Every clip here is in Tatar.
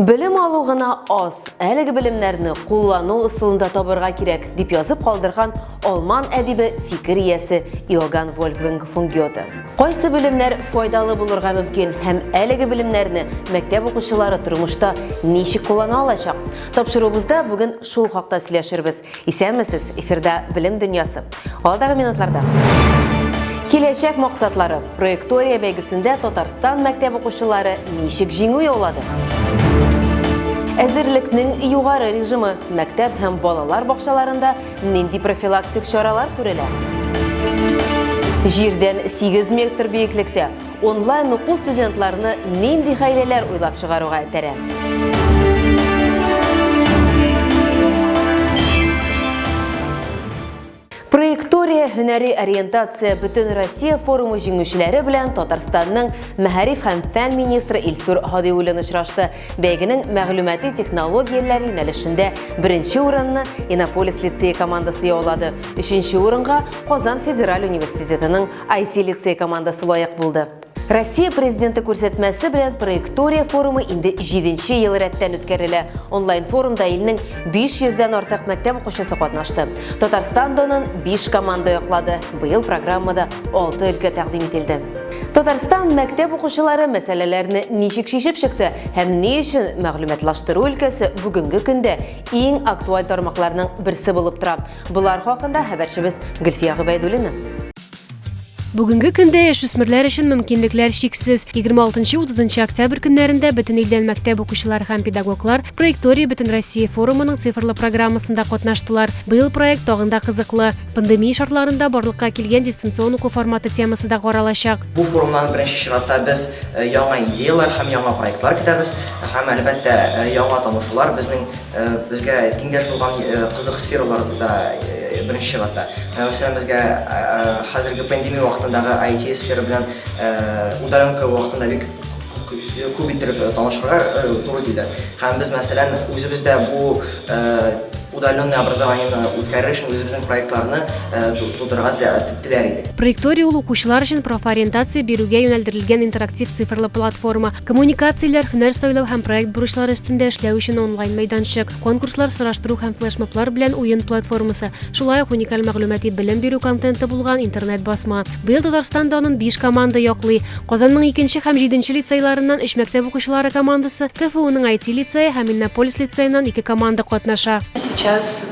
Белем алу гына аз, әлеге белемнәрне куллану ысулында табырга кирәк, дип язып калдырган алман әдибе фикер иясе Иоганн Вольфганг фон Гёте. Кайсы белемнәр файдалы булырга мөмкин һәм әлеге белемнәрне мәктәп укучылары тормышта ничек куллана алачак? Тапшыруыбызда бүген шул хакта сөйләшербез. Исәнмесез, эфирда Белем дөньясы. Алдагы минутларда. Киләчәк максатлары. Проектория бәйгесендә Татарстан мәктәп укучылары ничек җиңү яулады? Әзерлекнең югары режимы мәктәп һәм балалар бакчаларында нинди профилактик чаралар күрелә? Җирдән 8 метр биеклектә Онлайн уку студентларны нинди хәйләләр уйлап чыгаруга этәрә? Проектория һөнәри ориентация бөтен Россия форумы җиңүчеләре белән Татарстанның мәгариф һәм фән министры Илсур Һадиуллин очрашты. Бәйгенең мәгълүмати технологияләр юнәлешендә беренче урынны Иннополис лицее командасы яулады. Өченче урынга Казан федераль университетының IT-лицей командасы лаек булды. Россия президенты күрсәтмәсе белән проектория форумы инде 7 ел рәттән үткәрелә. Онлайн форумда илнең 500 дән артык мәктәп укучысы катнашты. Татарстан донын 5 команда яклады. Быел программада 6 өлкә тәкъдим ителде. Татарстан мәктәп укучылары мәсьәләләрне ничек шешеп чыкты һәм ни өчен мәгълүматлаштыру өлкәсе бүгенге көндә иң актуаль тармакларның берсе булып тора. Болар хакында хәбәрчебез Гөлфия Гобәйдуллина. Бүгенге көндә яшүсмерләр өчен мөмкинлекләр чиксез. 26-30 октябрь көннәрендә бөтен илдән мәктәп укучылар һәм педагоглар Проектория бөтен Россия форумының цифрлы программасында катнаштылар. Быел проект тагын да кызыклы. Пандемия шартларында барлыкка килгән дистанцион уку форматы темасы да каралачак. Бу форумнан беренче чиратта без э, яңа идеяләр һәм яңа проектлар көтәбез һәм әлбәттә э, яңа танышулар безнең Безгә дингә булган кызык сфералар да беренче чиратта. Менә мәсәлән, безгә хәзерге пандемия вакытындагы IT сфера белән удаленка вакытында бик күп иттереп танышырга туры килде. Һәм без мәсәлән, үзебез дә бу удаленное образованиене үткәрер өчен үзебезнең проектларны тудырырга теләр идек. Проекторий ул укучылар өчен профориентация бирүгә юнәлдерелгән интерактив цифрлы платформа. Коммуникацияләр, һөнәр сайлау һәм проект бурычлары өстендә эшләү өчен онлайн мәйданчык, конкурслар, сораштыру һәм флешмоблар белән уен платформасы, шулай ук уникаль мәгълүмати белем бирү контенты булган интернет-басма. Быел Татарстан данын биш команда яклый. Казанның икенче һәм җиденче лицейларыннан өч мәктәп укучылары командасы, КФУның IT-лицее һәм Иннополис лицееннан ике команда катнаша. Сейчас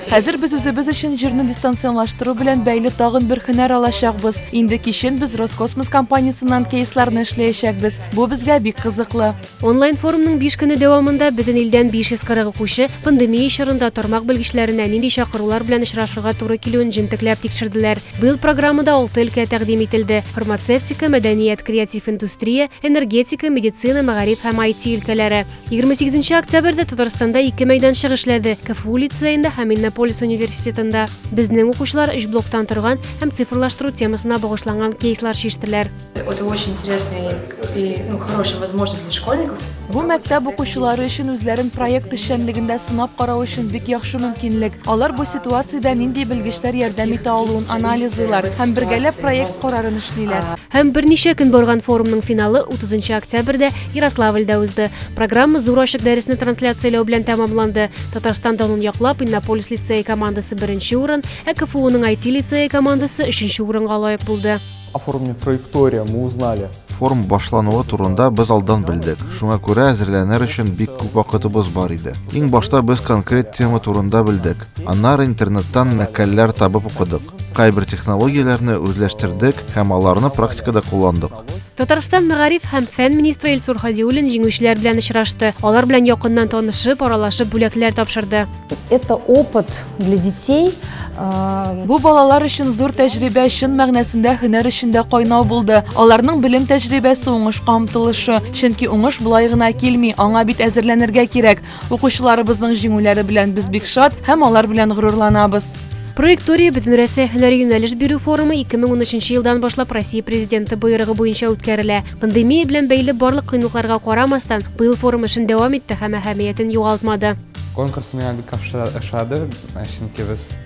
Хәзер без үзебез өчен җирне дистанционлаштыру белән бәйле тагын бер һөнәр алачакбыз. Инде кичен без Роскосмос компаниясеннән кейсларны эшләячәкбез. Бу безгә бик кызыклы. Онлайн форумның биш көне дәвамында бөтен илдән 540 укучы пандемия чорында тармак белгечләренә нинди чакырулар белән очрашырга туры килүен җентекләп тикшерделәр. Быел программада алты өлкә тәкъдим ителде, фармацевтика, мәдәният, креатив индустрия, энергетика, медицина, мәгариф һәм IT өлкәләре. 28 октябрьдә Татарстанда ике мәйданчык эшләде, КФУ лицеенда һәм Иннополис университетында. Безнең укучылар өч блоктан торган һәм цифрлаштыру темасына багышланган кейслар чиштеләр. Это очень интересный и ну, хорошая возможность для школьников. Бу мәктәп укучылары өчен үзләрен проект эшчәнлегендә сынап карау өчен бик яхшы мөмкинлек. Алар бу ситуациядә нинди белгечләр ярдәм итә алуын анализлыйлар һәм бергәләп проект карарын эшлиләр. Һәм берничә көн барган форумның финалы 30 октябрьдә Ярославльдә узды. Программа зур ачык дәресне трансляцияләү белән тәмамланды. Татарстан данын яклап Иннополис лицее командасы беренче урын, ә КФУның IT лицее командасы өченче урынга лаек булды. Оформление траектория мы узнали. Форум башлануы турында без алдан белдек. Шуңа күрә әзерләнер өчен бик күп вакытыбыз бар иде. Иң башта без конкрет тема турында белдек. Аннары интернеттан мәкаләләр табып укыдык. Кайбер технологияләрне үзләштердек һәм аларны практикада кулландык. Татарстан мәгариф һәм фән министры Илсур Хадиуллин җиңүчеләр белән очрашты. Алар белән якыннан танышып, аралашып бүләкләр тапшырды. Это опыт для детей. Э, Бу балалар өчен зур тәҗрибә, чын мәгънәсендә һөнәр эчендә кайнау булды. Аларның белем тәҗрибәсе уңышка омтылышы. Чөнки уңыш болай гына килми, аңа бит әзерләнергә кирәк. Укучыларыбызның җиңүләре белән без бик шат һәм алар белән горурланабыз. Проектория Бөтенрәсәй һөнәри юнәлеш бирү форумы 2013 елдан башлап Россия Президенты боерыгы буенча үткәрелә. Пандемия белән бәйле барлык кыенлыкларга карамастан, быел форум эшен дәвам итте һәм әһәмиятен югалтмады. Конкурс миңа бик ошады, чөнки без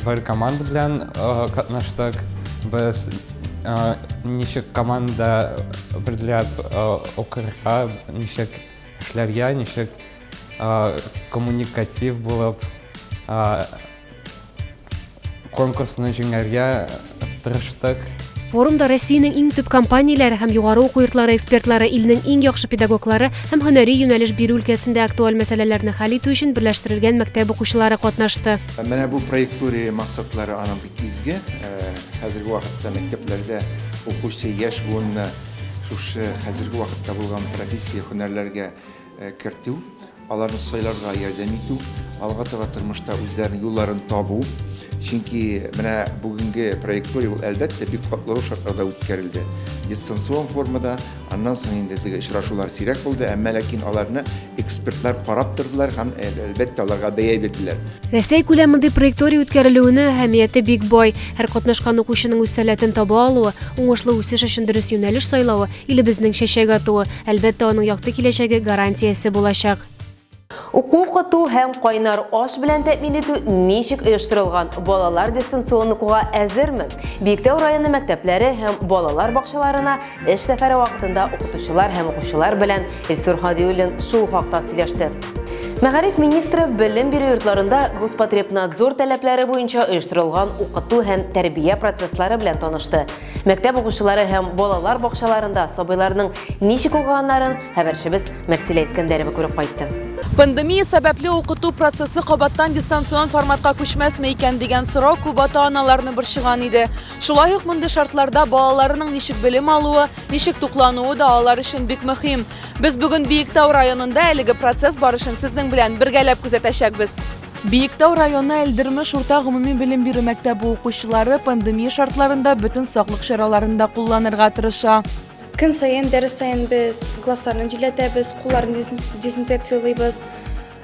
бер команда белән катнаштык. Без ничек команда берләп укырга, ничек Эшләргә ничек коммуникатив булып, конкурсны җиңәргә тырыштык. Форумда Россиянең иң төп компанияләре һәм югары уку йортлары экспертлары илнең иң яхшы педагоглары һәм һөнәри юнәлеш бирү өлкәсендә актуаль мәсьәләләрне хәл итү өчен берләштерелгән мәктәп укучылары катнашты. Менә бу проектория максатлары аның бик изге. Хәзерге вакытта мәктәпләрдә укучы яшь буынны Шушы хәзерге вакытта булган профессия һөнәрләргә кертү, аларны сайларга ярдәм итү, алга таба тормышта үзләренең юлларын табу. Чөнки менә бүгенге проектория ул әлбәттә бик катлаулы шартларда үткәрелде. Дистанцион формада, аннан соң инде теге очрашулар сирәк булды, әмма ләкин аларны Экспертлар карап тордылар һәм, әлбәттә, аларга бәя бирделәр. Рәсәй күләмендә проекторий үткәрелүенә әһәмияте бик бай. Һәр катнашкан укучының үз сәләтен таба алуы, уңышлы үсеш өчен дөрес юнәлеш сайлавы, илебезнең чәчәк атуы, әлбәттә, аның якты киләчәге гарантиясе булачак. Уку-укыту һәм кайнар аш белән тәэмин итү ничек оештырылган? Балалар дистанцион укуга әзерме? Биектау районы мәктәпләре һәм балалар бакчаларына Эш сәфәре вакытында укытучылар һәм укучылар белән Илсур Хадиуллин шул хакта сөйләште. Мәгариф министры белем бирү йортларында Роспотребнадзор таләпләре буенча оештырылган укыту һәм тәрбия процесслары белән танышты. Мәктәп укучылары һәм балалар бакчаларында сабыйларның ничек укыганнарын хәбәрчебез Мәрсилә Искәндәрова күреп кайтты. Пандемия сәбәпле укыту процессы кабаттан дистанцион форматка күчмәсме икән дигән сорау күп ата-аналарны борчыган иде. Шулай ук мондый шартларда балаларының ничек белем алуы, ничек туклануы да алар өчен бик мөһим. Без бүген Биектау районында әлеге процесс барышын сезнең белән бергәләп күзәтәчәкбез. Биектау районы Әлдермеш урта гомуми белем бирү мәктәбе укучылары пандемия шартларында бөтен саклык чараларын да кулланырга тырыша. Көн саен, дәрес саен без классларны җилләтәбез, кулларны дезинфекциялыйбыз,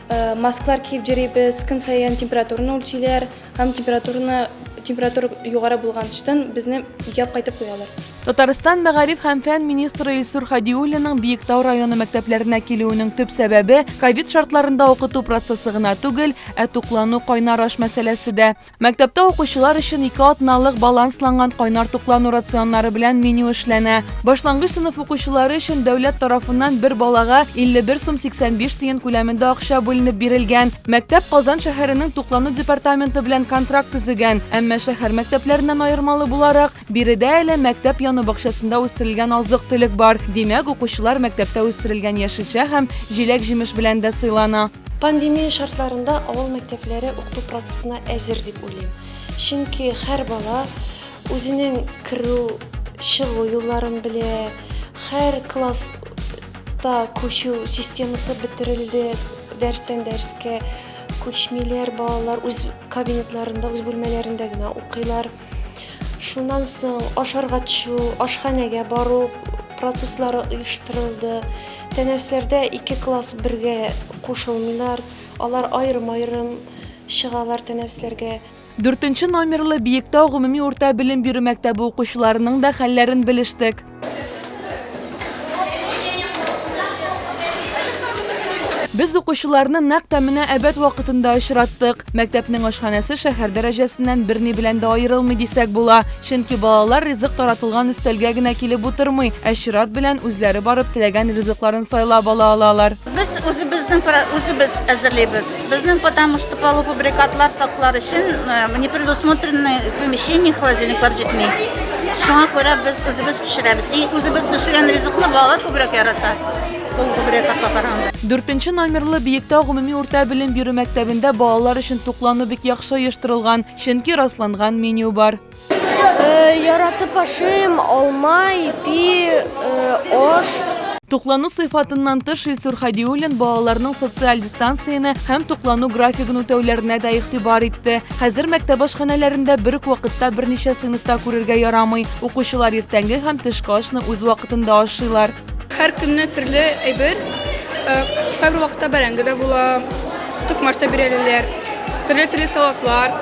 э, маскалар киеп йөрибез, көн саен температураны үлчиләр, Һәм температураны температура югары булганчтан безне өйгә кайтып куялар. Татарстан мәгариф һәм фән министры Илсур Хадиуллинның Биектау районы мәктәпләренә килүенең төп сәбәбе ковид шартларында укыту процессы гына түгел, ә туклану кайнар аш мәсьәләсе дә. Мәктәптә укучылар өчен ике атналык балансланган кайнар туклану рационнары белән меню эшләнә. Башлангыч сыйныф укучылары өчен дәүләт тарафыннан бер балага 51 сум 85 тиен күләмендә акча бүленеп бирелгән. Мәктәп Казан шәһәренең туклану департаменты белән контракт төзегән, әмма шәһәр мәктәпләреннән аермалы буларак, биредә әле мәктәп яны бакчасында үстерелгән азык-төлек бар. Димәк, укучылар мәктәптә үстерелгән яшелчә һәм җиләк-җимеш белән дә сыйлана. Пандемия шартларында авыл мәктәпләре укыту процессына әзер дип уйлыйм. Чөнки һәр бала Үзенең керү, чыгу юлларын белә, һәр класс та күчү системасы бетерелде, дәрстән дәрескә күчмиләр балалар, үз кабинетларында, үз бүлмәләрендә генә укыйлар. Шуннан соң ашарга төшү, ашханәгә бару процесслары оештырылды. Тәнәфесләрдә ике класс бергә кушылмыйлар, алар аерым-аерым чыгалар тәнәфесләргә. Дүртенче номерлы Биектау гомуми урта белем бирү мәктәбе укучыларының да хәлләрен белештек. Без укучыларны нәкъ тә менә әбәт вакытында очраттык. Мәктәпнең ашханәсе шәһәр дәрәҗәсеннән берни белән дә аерылмый дисәк була. Чөнки балалар ризык таратылган өстәлгә генә килеп утырмый, ә чират белән үзләре барып теләгән ризыкларын сайлап ала алалар. Без үзебезнең пра- үзебез әзерлибез. Безнең потому что полуфабрикатлар саклар өчен э, не предусмотрены помещение холодильниклар җитми. Шуңа күрә без үзебез пешерәбез. И үзебез пешергән ризыкны балалар күбрәк ярата. Полуфабрикатка караганда. Дүртенче номерлы Биектау гомуми урта белем бирү мәктәбендә балалар өчен туклану бик яхшы оештырылган, чөнки расланган меню бар. Яратып ашыйм, алма, ипи, аш. Туклану сыйфатыннан тыш, Илсур Хәдиуллин балаларның социаль дистанцияне һәм туклану графигын үтәүләренә дә игътибар итте. Хәзер мәктәп ашханәләрендә бер үк вакытта берничә сыйныфта күрергә ярамый. Укучылар иртәнге һәм төшке ашны үз вакытында ашыйлар. Һәр көнне төрле әйбер. Э, кайбер вакытта бәрәңге дә була, токмач та бирәләр. Төрле-төрле салатлар.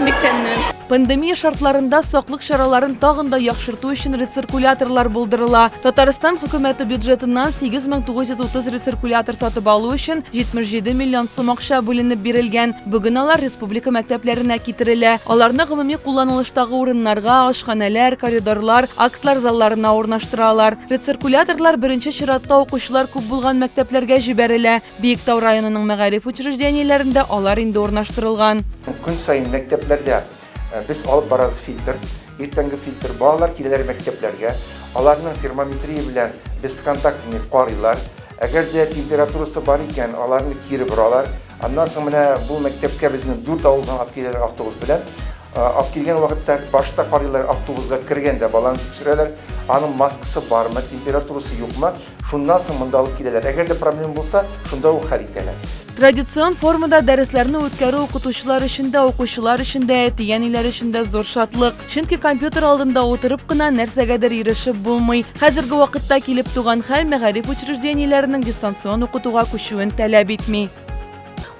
Бик тәмле. Пандемия шартларында саклык чараларын тагын да яхшырту өчен рециркуляторлар булдырыла. Татарстан хөкүмәте бюджетыннан 8930 рециркулятор сатып алу өчен 77 миллион сум акча бүленеп бирелгән. Бүген алар республика мәктәпләренә китерелә. Аларны гомуми кулланылыштагы урыннарга, ашханәләр, коридорлар, актлар залларына урнаштыралар. Рециркуляторлар беренче чиратта укучылар күп булган мәктәпләргә җибәрелә. Биектау районының мәгариф учреждениеләрендә алар инде урнаштырылган. Көн саен мәктәпләрдә Э, без алып барабыз фильтр иртәнге фильтр балалар киләләр мәктәпләргә аларның термометрия белән бесконтактный карыйлар әгәр дә температурасы бар икән аларны кире боралар аннан соң менә бу мәктәпкә безнең дүрт авылдан алып киләләр автобус белән э, алып килгән вакытта башта карыйлар автобусга кергәндә баланы тикшерәләр аның маскасы бармы температурасы юкмы Шуннан соң монда алып киләләр. Әгәр дә проблема булса, шунда ук хәл итәләр. Традицион формада дәресләрне үткәрү укытучылар өчен дә, укучылар өчен дә, әти-әниләр өчен дә зур шатлык. Чөнки компьютер алдында утырып кына нәрсәгәдер ирешеп булмый. Хәзерге вакытта килеп туган хәл мәгариф учреждениеләренең дистанцион укытуга күчүен таләп итми.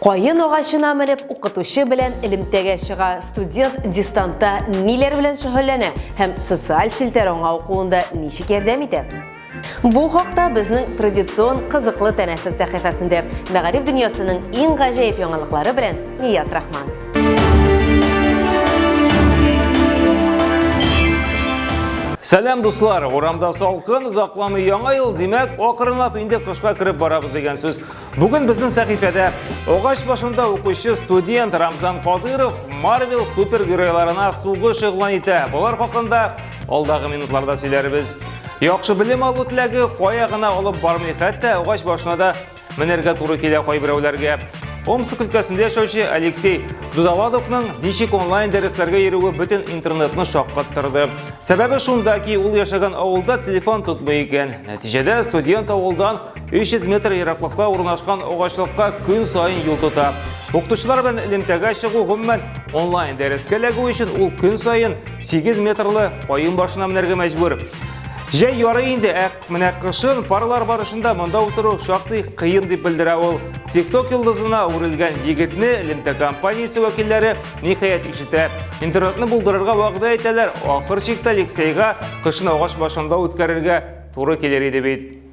Каен агачына менеп, укытучы белән элемтәгә чыга, студент дистанта ниләр белән шөгыльләнә һәм социаль челтәр аңа укуында ничек ярдәм итә? Бу хакта безнең традицион кызыклы тәнәфес сәхифәсендә мәгариф дөньясының иң гаҗәеп яңалыклары белән Нияз Рахман. Сәлам дуслар, урамда салкын, озакламый яңа ел, димәк, акрынлап инде кышка кереп барабыз дигән сүз. Бүген безнең сәхифәдә агач башында укучы студент Рамзан Кадыров Марвел супергеройларына сугыш игълан итә. Болар хакында алдагы минутларда сөйләрбез. Яхшы белем алу теләге кая гына алып бармый, хәтта агач башына да менәргә туры килә кайберәүләргә. Омск өлкәсендә яшәүче Алексей Дудавадовның ничек онлайн дәресләргә йөрүе бөтен интернетны шаккаттырды. Сәбәбе шунда ки, ул яшәгән авылда телефон тотмый икән. Нәтиҗәдә студент авылдан 300 метр ераклыкта урнашкан агачлыкка көн саен юл тота. Укытучылар белән элемтәгә чыгу гомумән онлайн дәрескә эләгү өчен ул көн саен 8 метрлы каен башына менәргә мәҗбүр. Җәй яры инде, ә менә кышын парлар барышында монда утыру шактый кыен дип белдерә ул. TikTok йолдызына үрелгән егетне элемтә компаниясе вәкилләре ниһаять ишетә. Интернетны булдырырга вәгъдә итәләр, ахыр чиктә Алексейга кышын агач башында үткәрергә туры килер иде бит.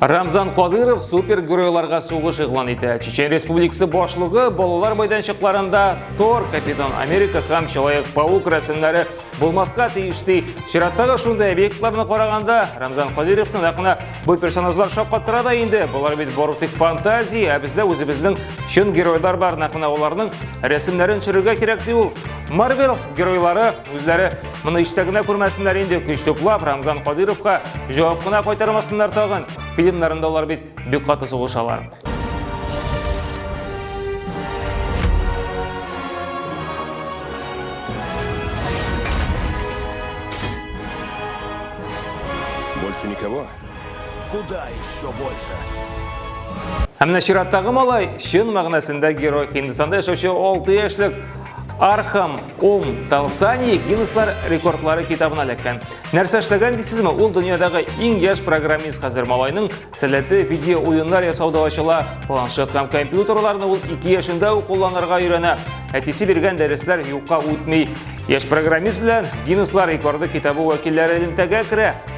Рамзан Кадыров супергеройларга сугыш игълан итә. Чечен Республикасы башлыгы балалар майданчыкларында Тор, Капитан Америка һәм Человек Паук рәсемнәре булмаска тиеш ди. Чираттагы шундый объектларны караганда Рамзан Кадыровны нәкъ бу персонажлар шаккатыра да инде. Болар бит бары тик фантазия, ә бездә үзебезнең чын геройлар бар, нәкъ менә аларның рәсемнәрен төшерергә кирәк ди ул. Марвел геройлары Үзләре моны иштә генә күрмәсеннәр инде, көч туплап, Рамзан Кадыровка җавап кына кайтармасыннар тагын. Фильмнарында алар бит бик каты сугышалар. Больше никого? Куда еще больше? Ә менә чираттагы малай чын мәгънәсендә герой Һиндстанда яшәүче 6 яшьлек Архам Ом Талсани Гиннесслар рекордлары китабына эләккән. Нәрсә эшләгән дисезме? Ул дөньядагы иң яшь программист хәзер малайның сәләте видео уеннар ясауда ачыла. Планшет һәм компьютерларны ул 2 яшендә үк кулланырга өйрәнә. Әтисе биргән дәресләр юкка үтми. Яшь программист белән Гиннесслар рекорды китабы вәкилләре элемтәгә керә.